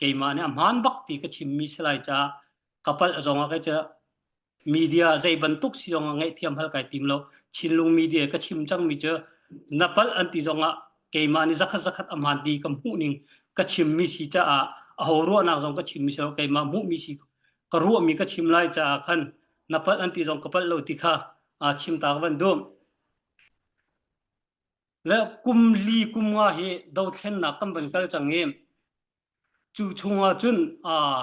keimah nih a hmaan bak ti ka chimmi si lai caah ka palh zongah kai ca media zei bantuk si zongah ngaihthiam hal kai tim lo Chinlung media ka chim cangmi cu na palh an ti zongah keimah nih zakhat zakhat a hmaan ti ka hmuh ning ka chimmi si caah a ho ruahnak zong ka chimmi si lo keimah hmuhmi si ka ruahmi ka chim lai caah khan na palh an ti zong ka palh lo ti kha aa chim ta ka van duh Le kum li kum nga hi dothlennak kan van kal cang i cu chungah cun aa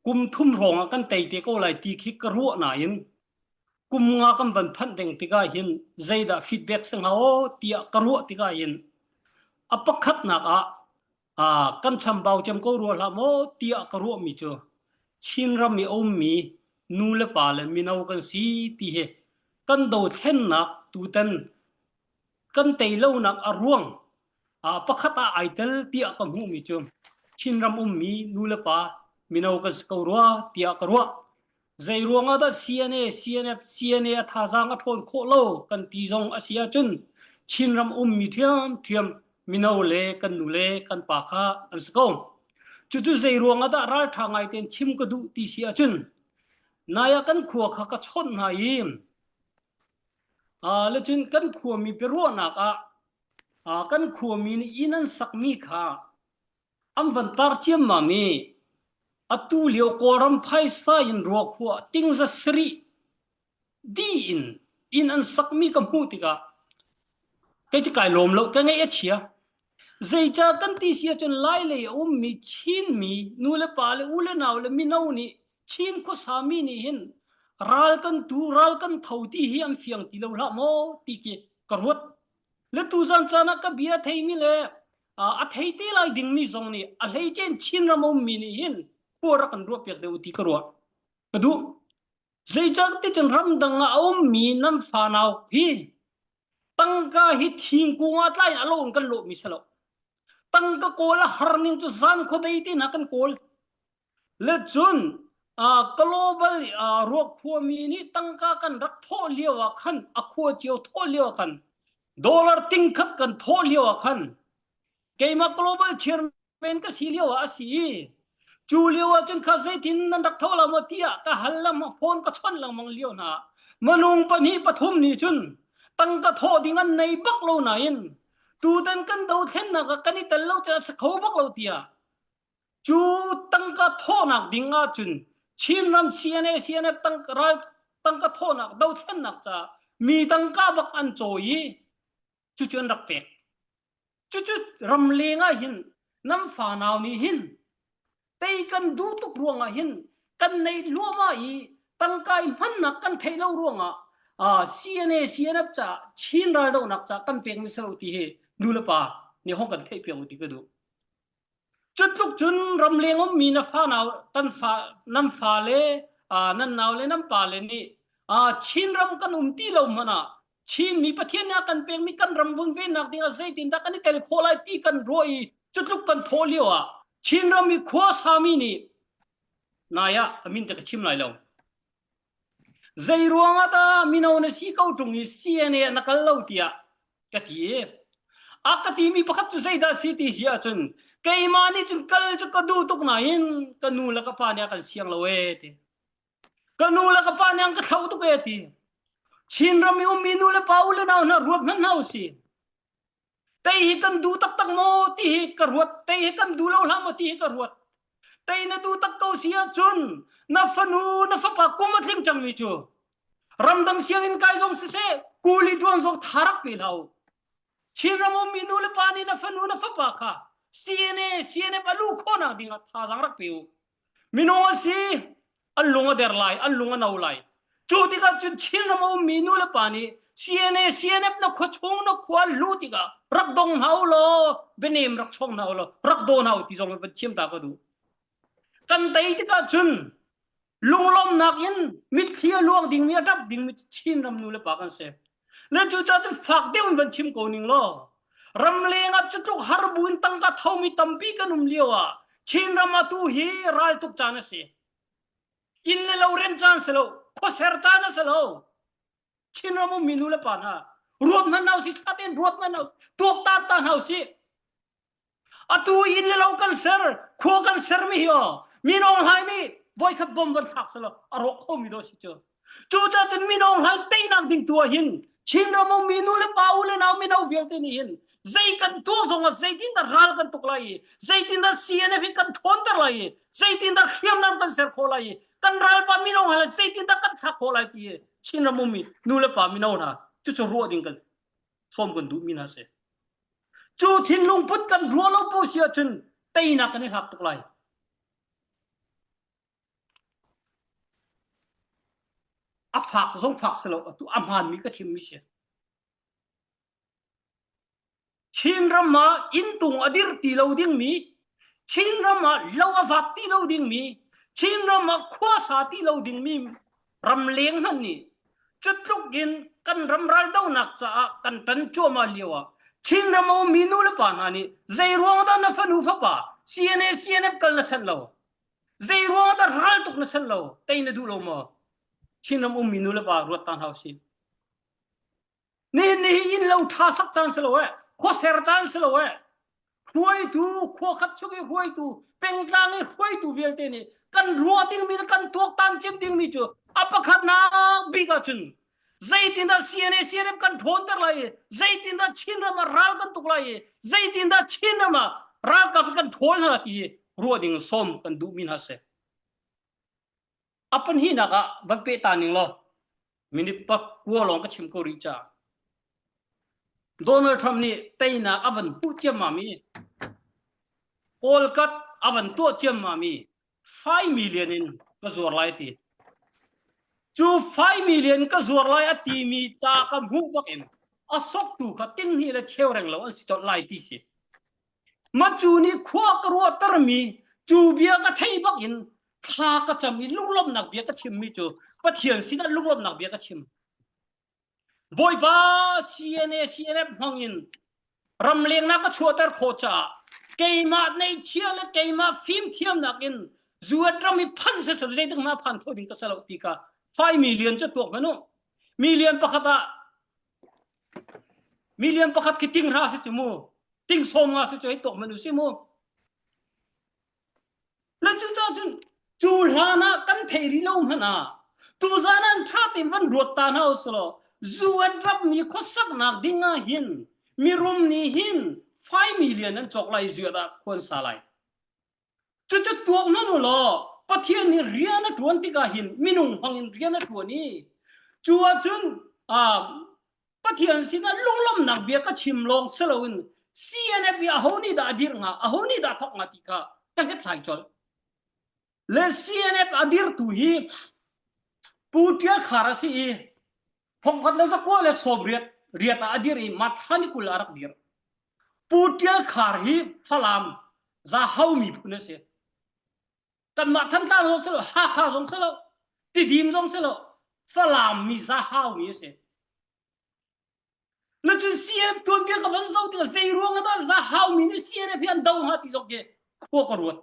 kum thum hrawng ah kan tei te ko lai ti khi ka ruah nain kum nga kan van phanh ding tikah hin zeidah feedback si hnga aw tiah ka ruah tikah hin a pakhatnak ah kan chambau cem ko rua hlah maw tiah ka ruahmi cu Chinram i a ummi nu le pa le mino kan si ti hi kan dothlennak tutan kan teilonak a ruang uh, pakhat ah ai tel tiah ka hmuhmi cu Chinram ummi nu le pa mino kan si ko rua tiah ka ruah Zeiruang ah dah CNA, CNF, CNA a thazaang a ṭhawn khawh lo kan ti zong a si ahcun Chinram ummi ṭhiamṭhiam mino le kan nu le kan pa kha an si ko. Cucu zeiruang ah dah ralṭha ngai tein chim ka duh ti si ahcun nai ah kan khua kha ka chawnh hna i uh, lecun kan khuami biaruahnak ah uh, kan khuami nih inn an sakmi kha An van tar ciammam i atulio Kawlram phaisa in ruakhua a ting zasarih dih in inn an sakmi ka hmuh tikah kei cu kai lawm lo, ka ngaih a chia. Zeicah kan ti si ahcun Lailei a ummi Chinmi nulepa le u le nau le mino nih Chin khuasami nih hin ral kan tu, ral kan tho ti hi an fiang ti lo hlah maw ti khi ka ruat. Le tuzan caan ah ka bia a theimi le a thei te lai dingmi zong nih a hleicein Chinram a ummi nih hin khua rak kan ruah piak deuh ti ka ruah ka duh zeicah ticun ramdang ah a ummi nan fanau hi tangka hi thingkung ah tlai in a lo in kan lawhmi si lo tangka kawl a har ning cu zan khuadei te hna kan kawl Le cun ka global i aa ruak khuami nih tangka kan rak thawh lio ah khan a khua cio thawh lio ah khan dollar ting khat kan thawh lio ah khan keimah global chairman ka si lio ah a si cu lio ah cun kha zeitin nan rak tho la maw tiah ka hal lam phone ka chon lengmang lio hna manung pahnih pathum nih cun tangka thawh ding an nei bak lo nain tutan kan dothlennak ah kan i tel lo cun a sa kho bak lo tiah Cu tangka thawhnak ding ahcun Chinram CNA CNF tangka, ral tangka thawhnak dothlennak caah mi tangka bak an cawi i cucu an rak pek. Cucu ramleng ah hin nan fanau nih hin tei kan duh tuk ruangah hin kan neih luahmah i tangka i hmannak kan theih lo ruangah uh, CNA CNF caah Chin raldohnak caah kan pekmi salo ti hi nu le pa nih hong kan theih piang u ti ka duh. Cu tluk cun ramleng ummi na fanau kan fa nan fale nan naule nan pale nih Chin ram kan um ti lo hmanh ah Chinmi Pathian nih a kan pekmi kan ram vunvennak ding ah zeitindah kan i tel khawh lai ti kan ruah i cutluk kan thawh lio ah Chin ram i khuasami nih nai ah ka min te ka chim lai lo. Zeiruangah dah mino na si ko ṭung i CNA ah na kal lo tiah ka ti i a ka timi pakhat cu zeidah a si ti si ahcun keimah nih cun kal cu ka duh tuk nain ka nu le ka pa nih a kan siang lo ee ti. Ka nu le ka pa nih an ka thlauh tuk ee ti. Chinram i ummi nu le pa u le nau hna ruat hmanh hna u si. Tei hi kan duh taktak maw ti hi ka ruat. Tei hi kan duh lo hlah maw ti hi ka ruat. Tei na duh tak ko si ahcun na fanu na fapa kum a tling cangmi cu ramdang sianginn kai zong siseh kuli duang zong tharak pe lau. Chinram ummi nu le pa nih na fanu na fapa kha CNA CNF a lu khawhnak ding ah thazaang rak pe u. Minung a si, an lung a der lai, an lung a no lai. Cu tikah cun Chinram a ummi nu le pa nih CNA CNF na khua chung na khua lu tikah rak dong hna u law bianem rak chong hna u law rak daw hna u ti zong van chiam ta ka duh. Kan tei tikah cun lunglawmnak in mitthli a luang dingmi a ṭap dingmi Chinram nu le pa kan si. na cu cun fak deuh in van chim ko ning law ram leng ah cutluk har buin tangka thomi tampi kan um lio ah Chin ram ah tu hi ral tuk caan a si inn le lo rent caan si lo khuaser caan a si lo Chin ram um minu le pa hna ruat hna hna usih ṭha tein ruat hna hna usih tuak ta ta hna usih atu inn le lo kan ser khua kan sermi hi min ong hlai nih voikhat bom van thlak selo a rawk khomi do si cu cu cacun min ong hlai teinak ding tua hin chin ram u minu le pa u le nau mino vialte nih hin zei kan tuak zong ah zeitin da ral kan tuk lai i zeitin da CNF hi kan ṭhawnter lai i zeitin da hriamnam kan ser khawh lai i kan ralpa min ong hlai zeitin da kan thlak khawh lai ti hi chin ram u mi nu le pa mino hna cucu ruah ding kan sawm kan duh mi hna se Cu thinlung put kan rua lo pu si ahcun teinak kan i hlak tuk lai. A fak zong fak si lo, atu a hmaanmi ka thimmi si. Chin ram ah inntung a dir ti lo dingmi, Chin ram ah lo a vat ti lo dingmi, Chin ram ah khuasa ti lo dingmi ramleng hmanh nih cutluk in kan ram raldonak caah kan tan cuahmah lio ah Chinram a ummi nu le pa hna nih zei ruang dah na fanu fapa CNA CNF kal na sanh lo zei ruang dah ral tuk na sanh lo tei na duh lo maw Chinram ummi nu le pa ruat ta hna usih Nih ni innlo ṭha sak caan si lo ee, khua ser caan si lo ee. Hruaitu, khua khat chung i hruaitu, pengtlang i hruaitu vialte nih kan ruah dingmi le kan tuaktan cim dingmi cu a pakhatnak bik ah cun zeitindah CNA CNM kan ṭhawnter lai i zeitindah Chinram ah ral kan tuk lai i zeitindah Chinram ah ralkap in kan ṭhawl hna hi ruah ding sawm kan duhmi hna a si. a pahnihnak ah van peh ta ning law minute pakua lawng ka chim ko rih ca Donald Trump nih teinak a van puh ciammam i Kolkat a van tuah ciammam i fai million in ka zuar lai ti cu fai million ka zuar lai a ti mi ca ka hmuh bak in a soktu kha tin hi le cheu reng lo an si colh lai ti si Macu nih khua ka ruahtermi cu bia ka thei bak in thla ka cam i lunglawmhnak bia ka chimmi cu Pathian sinah lunglawmhnak bia ka chim. Bawipa CNA CNF hmang in ramlengnak ka chuahter khawh caah keimah neihchia le keimah fimthiamnak in zuat ram i phanh se sal zeitik hma phan kho ding ka salo ti ka fai mi lian cu tuak hmanu mi lian pakhat ah Million pakhat khi ting hra si cu mu. Ting sawm nga si cu ei tok man u si mu. Na cu ca cun cu hlan ah kan thei rih lo hmanh ah tu zan an tha tein van ruat ta hna usulaw zu an rapmi khuasaknak ding ah hin mirum nih hin 5 million an cawk lai zuat ah khuan sa lai. Cucu tuah ngam u law Pathian nih rian a ṭuan tikah hin minung hmangin rian a ṭuan i cu ahcun Pathian sinah lunglawmhnak bia ka chim lawng si loin CNF i aho nih dah a dirh hnga, aho nih dah thawk hnga ti kha ka hlethlai colh. Le CNF a dirtu hi Pu Ṭial Khar a si i thongkhat le zakua le sawm riat riat ah a dir i matha ni kul a rak dir pu tial khar hi falam za hau mi phun a si kan mah than tlang zong si lo hakha zong si lo tidim zong si lo falam mi za hau mi a si na cun CNF tuan bia ka van zo tu zei ruang da za hau mi ni CNF hi an do ha ti jok ke khua ka ruat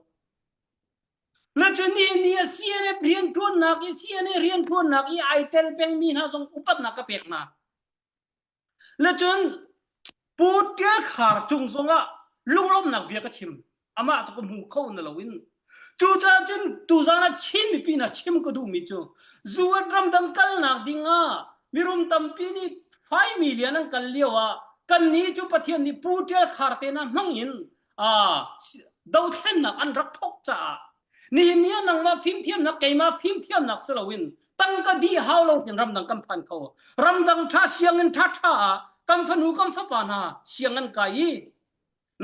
Nathani ni a si le rianṭuannak i si le rianṭuannak i ai tel pengmi hna zong upatnak ka pek hna. Lacun Pu Ṭial Khar cung zongah lunglawmhnak bia ka chim. Amah cu ka hmu kho na loin cucaah cun tuzan ah Chin mipi hna chim ka duhmi cu zuat ramdang kalnak dingah mirum tampi nih fai milian an kal lio ah kannih cu Pathian nih Pu Ṭial Khar te hna hmangin dothlennak an rak thok caah nihin ni ah nangmah fimthiamnak keimah fimthiamnak si loin tangka di hau lo hin ramdang kan phan kho ramdang tha siangin tha tha ah kan fanu kan fapa hna siang an kai i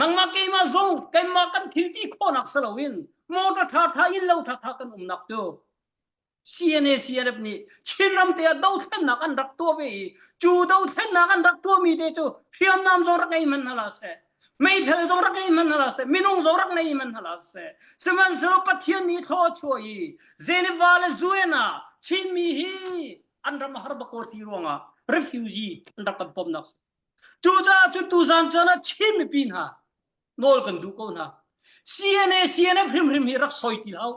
nangmah keimah zong keimah kan thilti khonak si loin motor tha tha in lo tha tha kan umnak cu CNACRF nih Chinram te ah dothlennak an rak tuah ve i cu dothlennak an rak tuahmi te cu hriamnam zong rak ngei hman hna la seh meithal zong rak ngei hman hna la seh minung zong rak ngei hman hna la seh sihmanhsehlaw Pathian nih thlaw chuah i Geneva le Vienna Chinmi hi an ram a har bak ko ti ruangah refugee an rak kan pom nak cucaah cu tuzan cun Chin mipi hna nawl kan duh ko hna CNA CNF hrimhrim hi rak soi ti hau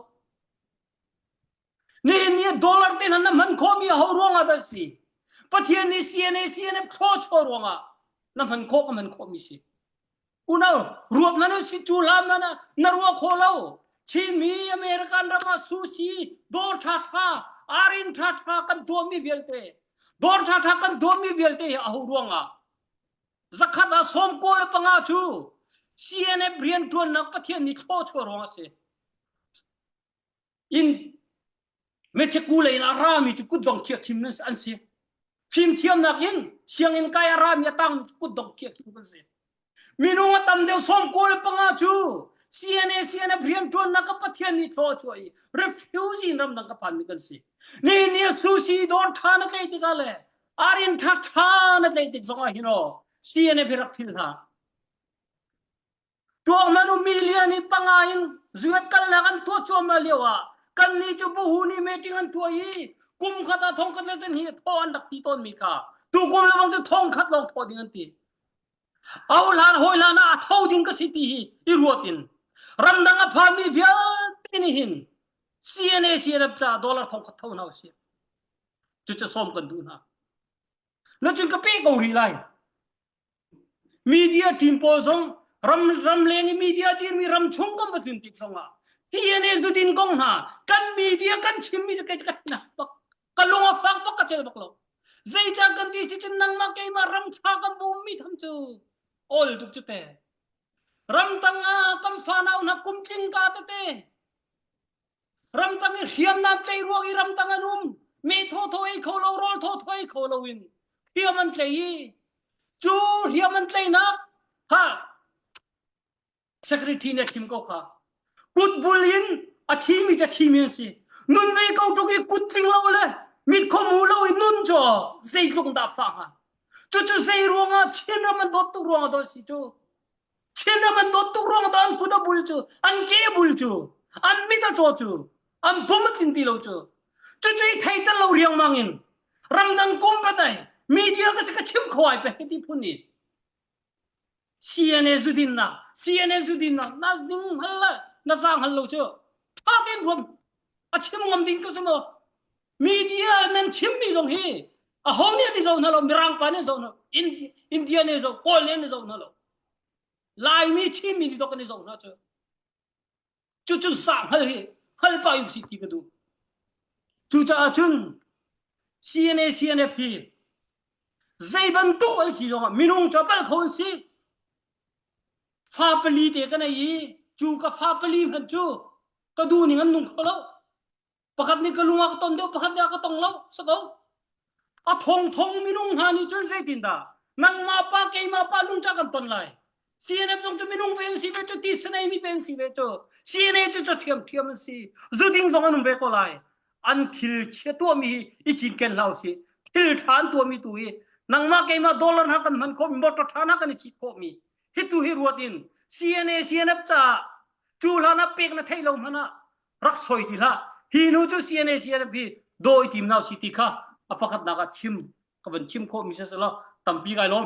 Nihin ni dollar tein an hman khomi a ho ruangah dah si? Pathian nih CNA CNF thlawchaw ruangah na hman khawh ka hman khawhmi si. Unau ruak na si cu lam na na ruak kho lo. Chinmi American ram ah sushi dor tha tha arin tha tha kan tuahmi vialte dor tha tha kan tuahmi vialte a ho ruangah zakhat ah som ko le panga cu CNF rian tuannak Pathian nih thlawchaw ruangah si. in mecheku lei in a rami cu kutdong khia khim an si fimthiamnak in sianginn kai a rami a tang kutdong khia khim kan si minung a tam deuh som ko le panga cu CNA CNF riantuannak ka pathian ni thlaw chuai refugee ram dang ka phan mi kan si ni ni sushi don tha na tlei tika le arin tha tha na tlei tik zong ah hino CNF hi rak phil hna Tuahman um million i panga in zuet kalnak an tuah cuahmah lio ah kannih cu buhu nih meeting an tuah i kum khat ah thongkhat le sen hi thawh an rak ti tawnmi kha tukum le bang cu thongkhat lawng thawh ding an ti ohlan hawilan ah a tho ding ka si ti hi i ruat in ramdang a phanmi vialte nih hin CNA CNF ca dollar thongkhat tho hna usih cucu sawm kan duh hna na cun ka pe ko rih lai Media team pawl zong ram ramleng i media dirmi ram chung kan va tlun tik zongah TNA zudin kong hna kan media kan chimmi ka ka tina bak ka lung a fak bak ka cel bak lo zeicah kan ti si cun nangmah keimah ram tha kan bummi tham cu ol tuk cu te ram tang ah kan fanau hna kum tling ka tete ramtang i hriamnam tlei ruang i ramtang an um me thotho ei kho lo rawl thotho ei kho lo in hriam an tlei i cu hriam an tleinak ha secretary nih a thim ko kha kutbul in a thimi ca thimi an si nun vei ko tuk i kut tling lo le mit khomu lo i nun cho zeitluk dah fa hnga cucu zei ruangah chin ram an dawt tuk ruangah dawt si cu Chinram an dawt tuk ruang tah an kut a bul cu, an ke a bul cu, an mit a ṭaw cu, an bum a tlin ti lo cu. Cucu i thei tel lo riangmang in ramdang kum patai mi thil ka si ka chimh kho ai pe ti phun i CNA zudinnak CNA zudinnak na ding hal le na sang hal lo cu tha tein ruam a chim ngam ding ka si maw media nan chimmi zong hi aho nih ni zo hna lo mirang pa nih zo hna india ne zo kawl ne zo hna lo laimi chinmi ni tok ne zo hna cu cu cu sa hngal hi hngal pa in si ti ka du cu caah cun CNA CNF hi zei bantuk an si zong ah minung cu pal kho an si fa pali te ka nei i cu ka fa pali hman cu ka du ning an nung kho lo pakhat nih ka lung ah ka ton deuh pakhat nih a ka tong lo sa ko a thong thong minung hna nih cun zeitin dah nangmah pa keimah pa lungca kan ton lai CNF zong cu minung pe an si ve cu TCNA mi pe an si ve cu CNA cu cu thiam thiam an si zuding zong an um ve ko lai an thil chia tuahmi hi i cinken hlau si thil than tuahmi tu hi nangmah keimah dollar ha kan hman khawmi motor than ha kan i cit khawmi hi tu hi ruat in CNA CNF ca cu hlan ah pek na theih lo hmanh ah rak soi ti hlah hi nu cu CNA CNP dawi tim hna si ti kha a pakhatnak ah chim ka van chim khawh mi si lo tampi kai lawm